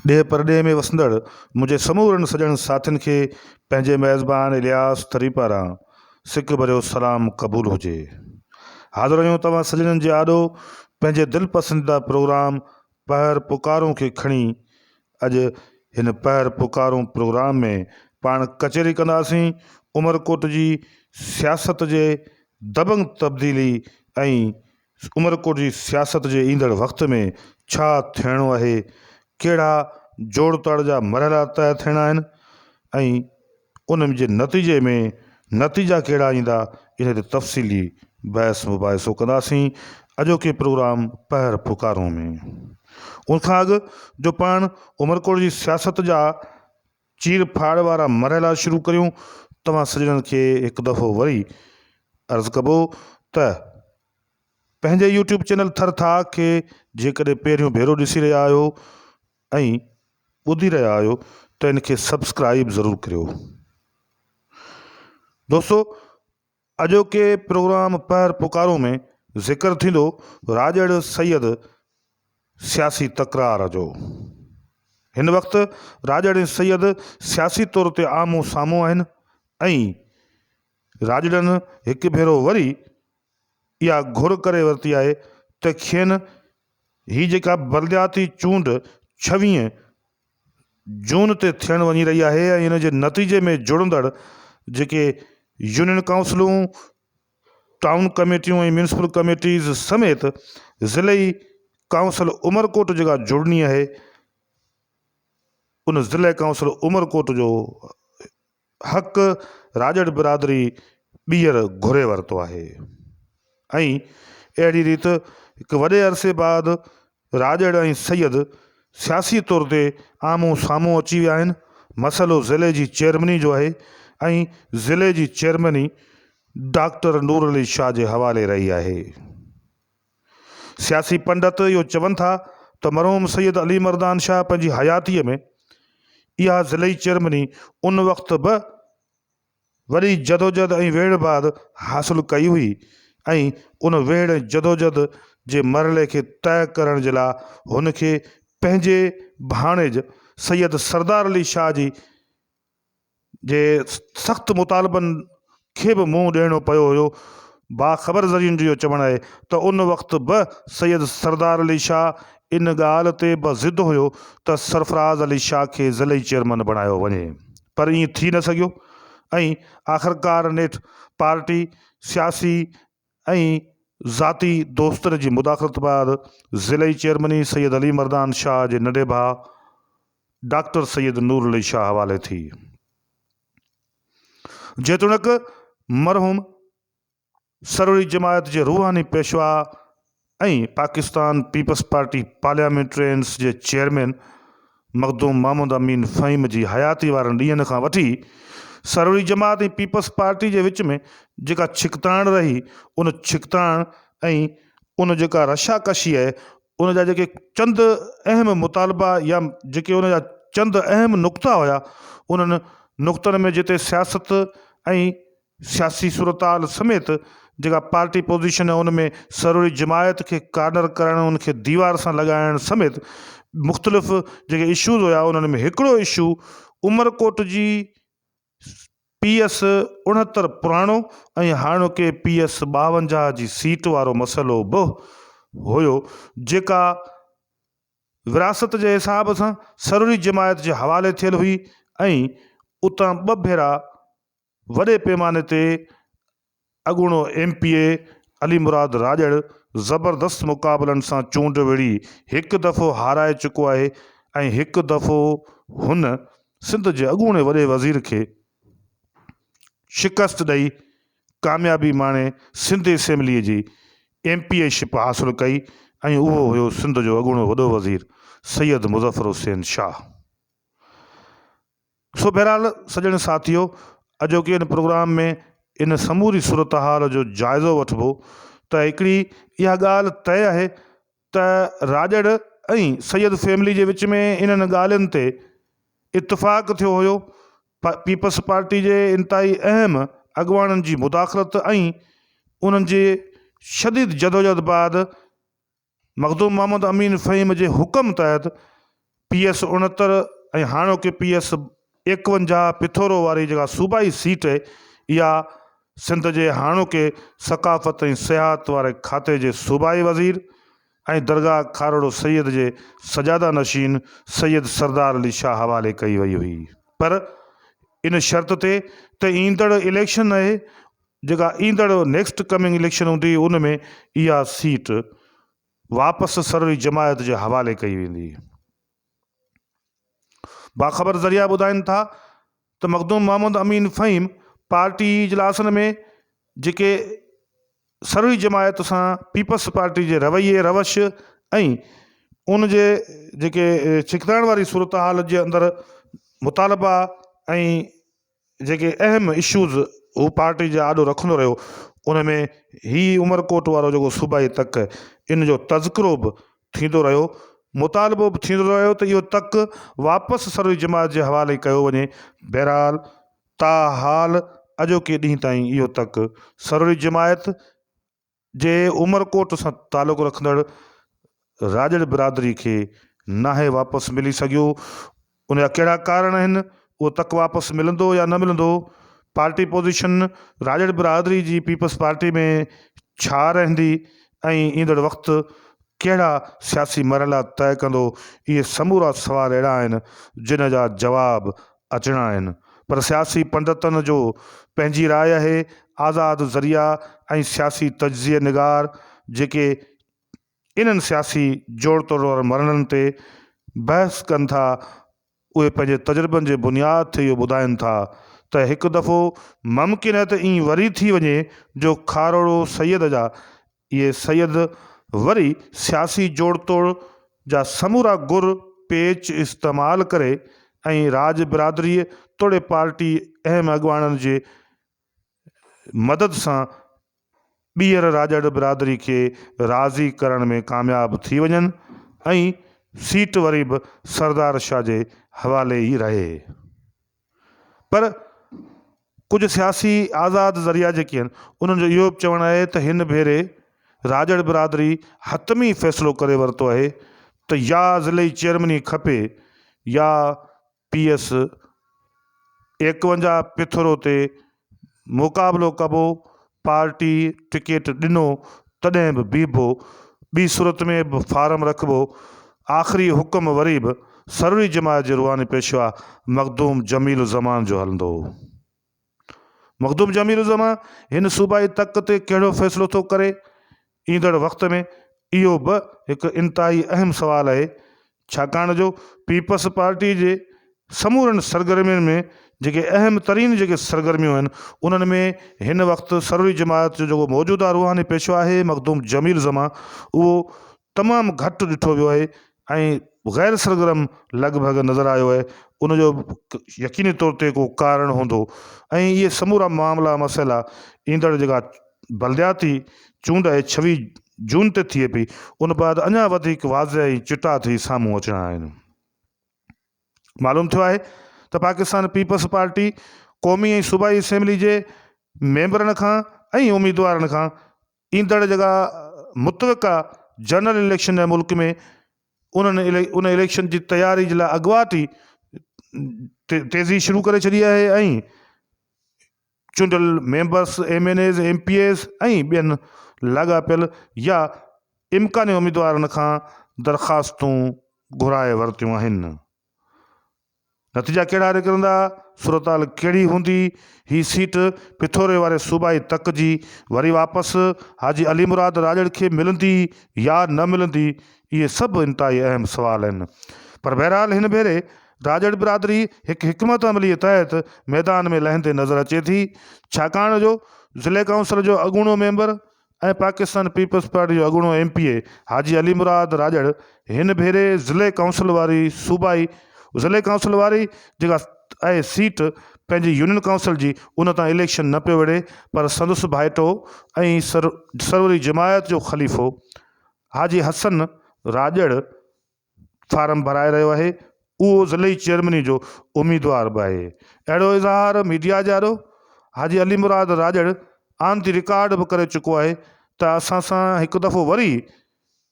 ڏيهه پرڏيهه ۾ وسندڙ منهنجي سمورن سڄڻ ساٿين کي پنهنجي ميزبان الياس ٿري پاران سڪ ڀريو سلام قبول هجي. حاضر آهيون توهان سڄڻن جي آڏو پنهنجي دل پسنديده پروگرام پهر پڪارون کي کڻي اڄ هن پهر پڪارون پروگرام ۾ پاڻ ڪچهري ڪنداسين عمرڪوٽ جي سياست جي دبنگ تبديلي ۽ عمرڪوٽ جي سياست جي ايندڙ وقت ۾ ڇا ٿيڻو آهي، ڪهڙا جوڙتاڙ جا مرحلا طئي ٿيڻا آهن ۽ ان جي نتيجي ۾ نتيجا ڪهڙا ايندا ان تي تفصيلي بحث مباحثو ڪنداسين اڄوڪي پروگرام پهر پڪارون ۾. ان کان اڳ جو پاڻ عمرڪوٽ جي سياست جا چير ڦاڙ وارا مرحلا شروع ڪريون توهان سڄڻن کي هڪ دفعو وري عرض ڪبو ته پنهنجي يوٽيوب چينل ٿر ٿاهه کي جيڪڏهن پهريون ڀيرو ڏسي رهيا آهيو ۽ ٻڌي رهيا آهيو ته ان کي سبسڪرائيب ضرور ڪريو دوستو اڄوڪي پروگرام پهر پڪارون ۾ ذڪر ٿيندو راڄڙ سيد سياسي تڪرار جو. هن وقت راڄڙ ۽ سيد سياسي طور تي آمهون سامهون آهن ۽ راڄڙن هڪ ڀيرو وري اها گهر ڪري ورتي آهي ته کين هي جيڪا بلدياتي چونڊ ڇويهين جون تي ٿيڻ وڃي رهي آهي ۽ ان جي نتيجي ۾ جڙندڙ جيڪي يونين ڪائونسلون، ٽائون ڪميٽيون ۽ ميونسپل ڪميٽيز سميت ضلعي ڪائونسل عمرڪوٽ جيڪا جڙڻي اهي ان ضلعي ڪائونسل عمرڪوٽ جو حق راڄڙ برادري ٻيهر گهري ورتو آهي ۽ اهڙي ريت هڪ وڏي عرصي بعد راڄڙ ۽ سيد سياسي طور تي آمهون سامهون اچي ويا آهن. مسئلو ضلعي جي چيئرميني جو آهي ۽ ضلعي جي چيئرميني ڊاڪٽر نورعلي شاهه جي حوالي رهي آهي. سياسي پنڊت اهو چون ٿا ته مرحوم سيد علي مردان شاهه پنهنجي حياتيء ۾ اها ضلعي چيئرمني ان وقت به وڏي جدوجهد ۽ ويڙهه بعد حاصل ڪئي هئي ۽ ان ويڙهه ۽ جدوجهد جي مرحلي کي طئه ڪرڻ جي لاء هن کي پنهنجي ڀاڻيج سيد سردار علي شاهه جي جي سخت مطالبن کي به منهن ڏيڻو پيو هيو. باخبر ذريعن جو اهو چوڻ آهي ته ان وقت به سيد سردار علي شاهه ان ڳالهه تي به ضد هيو ته سرفراز علي شاهه کي ضلعي چيئرمن بڻايو وڃي پر ائين ٿي نه سگهيو ۽ آخرڪار نيٺ پارٽي سياسي ۽ ذاتي دوستن جي مداخلت بعد ضلعي چيئرمني سيد علي مردان شاهه جي ننڍي ڀاء ڊاڪٽر سيد نور علي شاهه حوالي ٿي. جيتوڻيڪ مرحوم سروري جماعت جي روحاني پيشوا ۽ پاڪستان پيپلز پارٽي پارليامينٽرينز جي چيئرمين مخدوم محمد امين فهيم جي حياتي وارن ڏينهن کان وٺي سروري جماعت ۽ پيپلز پارٽي جي وچ ۾ جيڪا ڇڪتاڻ رهي ان ڇڪتاڻ ۽ ان جيڪا رشاڪشي آهي ان جا جيڪي چند اهم مطالبا يا جيڪي ان جا چند اهم نقطا هيا انهن نقطن ۾ جتي سياست ۽ سياسي صورتحال سميت جيڪا پارٽي پوزيشن ان ۾ سروري جماعت کي ڪارنر ڪرڻ ان کي ديوار سان لڳائڻ سميت مختلف جيڪي اشوز هيا انهن ۾ هڪڙو اشو عمرڪوٽ جي پي ايس اڻهتر پراڻو ۽ هاڻوڪي پي ايس ٻاونجاهه جي سيٽ وارو مسئلو به هيو جيڪا وراثت جي حساب سان سروري جماعت جي حوالي ٿيل هئي ۽ اتان ٻه ڀيرا وڏي پيماني تي اڳوڻو M P A Ali Murad Rajar زبردست مقابلن سان چونڊ وڙهي هڪ دفعو هارائي چڪو آهي ۽ هڪ دفعو هن سنڌ جي اڳوڻي وڏي وزير کي شڪست ڏئي ڪاميابي ماڻي سنڌ اسيمبلي جي ايم پي اي شپ حاصل ڪئي ۽ اهو هيو سنڌ جو اڳوڻو وڏو وزير سيد مظفر حسين شاهه. سو بهرحال سڄڻ ساٿيو اڄوڪي ان پروگرام ۾ ان سموري صورتحال جو جائزو وٺبو ته هڪڙي اها ڳالهه طئي آهي ته راڄڙ ۽ سيد فيملي جي وچ ۾ انهن ڳالهين تي اتفاق ٿيو هيو پيپلز پارٽي جي انتهائي اهم اڳواڻن جي مداخلت ۽ انهن جي شديد جدوجهد بعد مخدوم محمد امين فهيم جي حڪم تحت پي ايس اڻهتر ۽ هاڻوڪي پي ايس ايڪونجاهه پٿورو واري جيڪا صوبائي سيٽ اهي اها سنڌ جي هاڻوڪي ثقافت ۽ سياحت واري کاتي جي صوبائي وزير ۽ درگاهه کارڙو سيد جي سجاده نشين سيد سردار علي شاهه حوالي ڪئي وئي هئي پر ان شرط تي ته ايندڙ اليڪشن اهي جيڪا ايندڙ نيڪسٽ ڪمنگ اليڪشن هوندي ان ۾ اها سيٽ واپس سروري جماعت جي حوالي ڪئي ويندي. باخبر ذريعا ٻڌائين ٿا ته مخدوم محمد امين فهيم پارٽي اجلاسن ۾ جيڪي سروري جماعت سان پيپلز پارٽي جي رويي روش ۽ ان جي جيڪي ڇڪتائڻ واري صورتحال جي اندر مطالبا ۽ جيڪي اهم اشوز هو پارٽي جي آڏو رکندو رهيو ان ۾ هي عمرڪوٽ وارو جيڪو صوبائي تڪ ان جو تذڪرو به ٿيندو رهيو مطالبو به ٿيندو رهيو ته اهو تڪ واپس سروي جماعت جي حوالي ڪيو وڃي بهرحال تاحال اڄوڪي ڏينهن تائين اهو تڪ سروي جماعت جي عمرڪوٽ سان تعلق رکندڙ راڄڙ برادري کي ناهي واپس ملي سگهيو، ان جا ڪهڙا ڪارڻ آهن، اهو تڪ واپس ملندو يا نه ملندو، پارٽي پوزيشن راڄڙ برادري جي پيپلز پارٽي ۾ ڇا رهندي ۽ ايندڙ وقت ڪهڙا سياسي مرحلا طئي ڪندو، اهي سمورا سوال اهڙا آهن، جن جا جواب اچڻا آهن پر سياسي پنڊتن جو پنهنجي راء آهي، آزاد ذريعا ۽ سياسي تجزيه نگار جيڪي انهن سياسي جوڙتوڙ وارن مرحلن تي بحث ڪن ٿا اهي پنهنجي تجربن جي بنياد تي اهو ٻڌائين ٿا ته هڪ دفعو ممڪن آهي ته ائين وري ٿي وڃي جو کاروڙو سيد جا اهي سيد وري سياسي جوڙتوڙ جا سمورا گر پيچ استعمال ڪري ۽ راڄ برادريء توڙي پارٽي اهم اڳواڻن جي مدد سان ٻيهر راڄڙ برادري کي راضي ڪرڻ ۾ ڪامياب ٿي وڃن ۽ سيٽ وري به سردار شاهه جي حوالي ئي رهي. پر ڪجهه سياسي آزاد ذريعا جيڪي آهن انهن جو اهو به چوڻ آهي ته هن ڀيري راڄڙ برادري حتمي فيصلو ڪري ورتو آهي ته يا ضلعي چيئرميني کپي يا پي ايس ايڪونجاهه پٿرو تي مقابلو ڪبو، پارٽي ٽڪيٽ ڏنو تڏهن به بيهبو، ٻي صورت ۾ به فارم رکبو، آخري حڪم وري به سروري جماعت جي روحاني پيشوا مخدوم جميل الزمان جو هلندو هو. مخدوم جميل الزمان هن صوبائي تڪ تي ڪهڙو فيصلو ٿو ڪري؟ ايندڙ وقت ۾ اهو به هڪ انتهائي اهم سوال آهي ڇاڪاڻ جو پيپلز پارٽي جي سمورن سرگرمين ۾ جيڪي اهم ترين جيڪي سرگرميون آهن انهن ۾ هن وقت سروري جماعت جو جيڪو موجوده روحاني پيشوا آهي مخدوم جميل زمان اهو تمام گهٽ ڏٺو ويو آهي ۽ غير سرگرم لڳ ڀڳ نظر آيو آهي ان جو يقيني طور تي ڪو ڪارڻ هوندو ۽ اهي سمورا معاملا مسئلا ايندڙ جيڪا بلدياتي چونڊ اهي ڇويهه جون تي ٿئي پئي ان بعد اڃا وڌيڪ واضح ۽ چٽا ٿئي سامهون اچڻا آهن معلوم ٿيو آهي ته پاڪستان پيپلز پارٽي قومي ۽ صوبائي اسيمبلي جي ميمبرن کان ۽ اميدوارن کان ايندڙ جيڪا متوقع جنرل اليڪشن آهي ملڪ ۾ انهن ان اليڪشن جي تياري جي لاء اڳواٽ ئي تيزي شروع ڪري ڇڏي آهي ۽ چونڊيل members M N As M P As ۽ ٻين لاڳاپيل يا امڪاني اميدوارن کان درخواستون گهرائي ورتيون آهن. نتيجا ڪهڙا نڪرندا، صورتحال ڪهڙي هوندي، هي سيٽ پٺوري واري صوبائي تڪ جي وري واپس حاجي علي مراد راڄڙ کي ملندي يا نه ملندي، اهي سڀ انتهائي اهم سوال آهن. پر بهرحال هن ڀيري راڄڙ برادري هڪ حڪمت عمليء تحت ميدان ۾ لهندي نظر اچي ٿي، ڇاڪاڻ جو ضلعي ڪائونسل جو اڳوڻو ميمبر ۽ پاڪستان پيپلز پارٽي جو اڳوڻو M P A Haji Ali Murad Rajar هن ڀيري ضلعي ڪائونسل واري صوبائي ضلعي ڪائونسل واري جيڪا اهي سيٽ پنهنجي يونين ڪائونسل جي ان تان اليڪشن نه پيو وڙهي پر سندس ڀائيٽو ۽ سروري جماعت جو خليفو حاجي حسن راڄڙ فارم ڀرائي رهيو آهي اهو ضلعي چيئرميني جو اميدوار به آهي اهڙو اظهار ميڊيا جارو Haji Ali Murad Rajar on the record به ڪري چڪو آهي ته اسان سان هڪ دفعو وري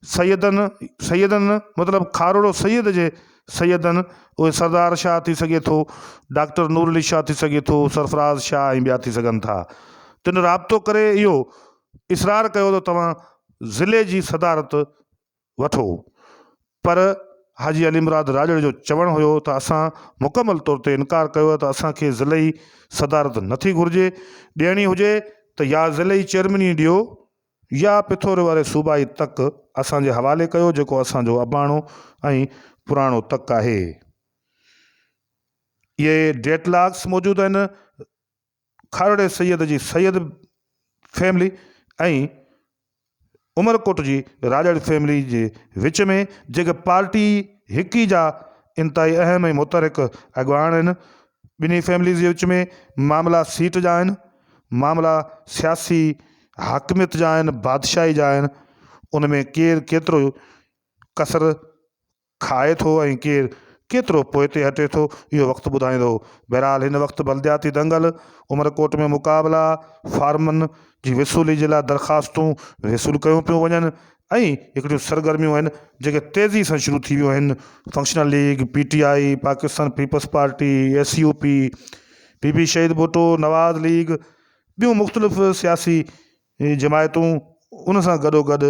سيدن سيدن مطلب کاروڙو سيد جي سيدن اهي سردار شاهه ٿي سگهي ٿو ڊاڪٽر نور علي شاهه ٿي سگهي ٿو سرفراز شاهه ۽ ٻيا ٿي سگهن ٿا تن رابطو ڪري اهو اسرار ڪيو ته توهان ضلعي جي صدارت وٺو پر حاجي علي مراد راڄڙي جو چوڻ هيو ته اسان مڪمل طور تي انڪار ڪيو ته اسان کي ضلعي صدارت نٿي گهرجي، ڏيڻي هجي ته يا ضلعي چيئرميني ڏيو يا پٿوري واري صوبائي تڪ اسان جي حوالي ڪيو جيڪو اسان جو اباڻو ۽ پراڻو تڪ آهي. اهي ڊيڊ لاڪس موجود آهن. کارڙي سيد جي سيد فيملي ۽ عمرڪوٽ جي راڄڙ فيملي جي وچ ۾ جيڪي پارٽي هڪي جا انتهائي اهم ۽ متحرڪ اڳواڻ آهن، ٻنهي فيمليز جي وچ ۾ معاملا سيٽ جا آهن، معاملا سياسي حاڪميت جا آهن، بادشاهي جا آهن، ان ۾ ڪير ڪيترو ڪسر کائي ٿو ۽ ڪير ڪيترو پوئتي هٽي ٿو اهو وقت ٻڌائيندو. بهرحال هن وقت بلدياتي دنگل، عمرڪوٽ ۾ مقابلا، فارمن جي وصولي جي لاء درخواستون وصول ڪيون پيون وڃن ۽ هڪڙيون سرگرميون آهن جيڪي تيزي سان شروع ٿي ويون آهن، functional league, P T I, Pakistan Peoples Party, S U P, P P Shaheed Bhutto, Nawaz league, ٻيون مختلف سياسي هي جماعتون ان سان گڏوگڏ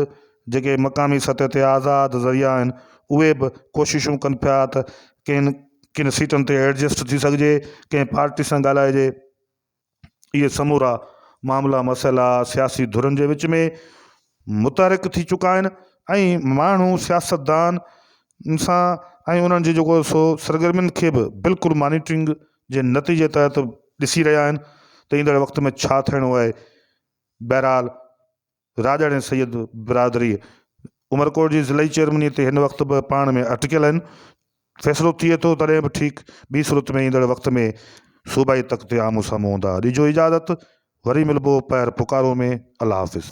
جيڪي مقامي سطح تي آزاد ذريعا آهن اهي به ڪوششون ڪن پيا ته ڪن ڪن سيٽن تي ايڊجسٽ ٿي سگهجي ڪنهن پارٽي سان ڳالهائجي اهي سمورا معاملا مسئلا سياسي ڌرين جي وچ ۾ متحرڪ ٿي چڪا آهن ۽ ماڻهو سياستدان سان ۽ انهن جي جيڪو سو سرگرمين کي به بلڪل مانيٽرنگ جي نتيجي تحت ڏسي رهيا آهن ته ايندڙ وقت ۾ ڇا ٿيڻو آهي. بهرحال راڄڙ ۽ سيد برادري عمرڪوٽ جي ضلعي چيئرميني تي هن وقت به پاڻ ۾ اٽڪيل آهن. فيصلو ٿئي ٿو تڏهن به ٺيڪ ٻي صورت ۾ ايندڙ وقت ۾ صوبائي تخت تي آمهون سامهون هوندا. ڏجو اجازت وري ملبو پهر پڪارو ۾ الله حافظ.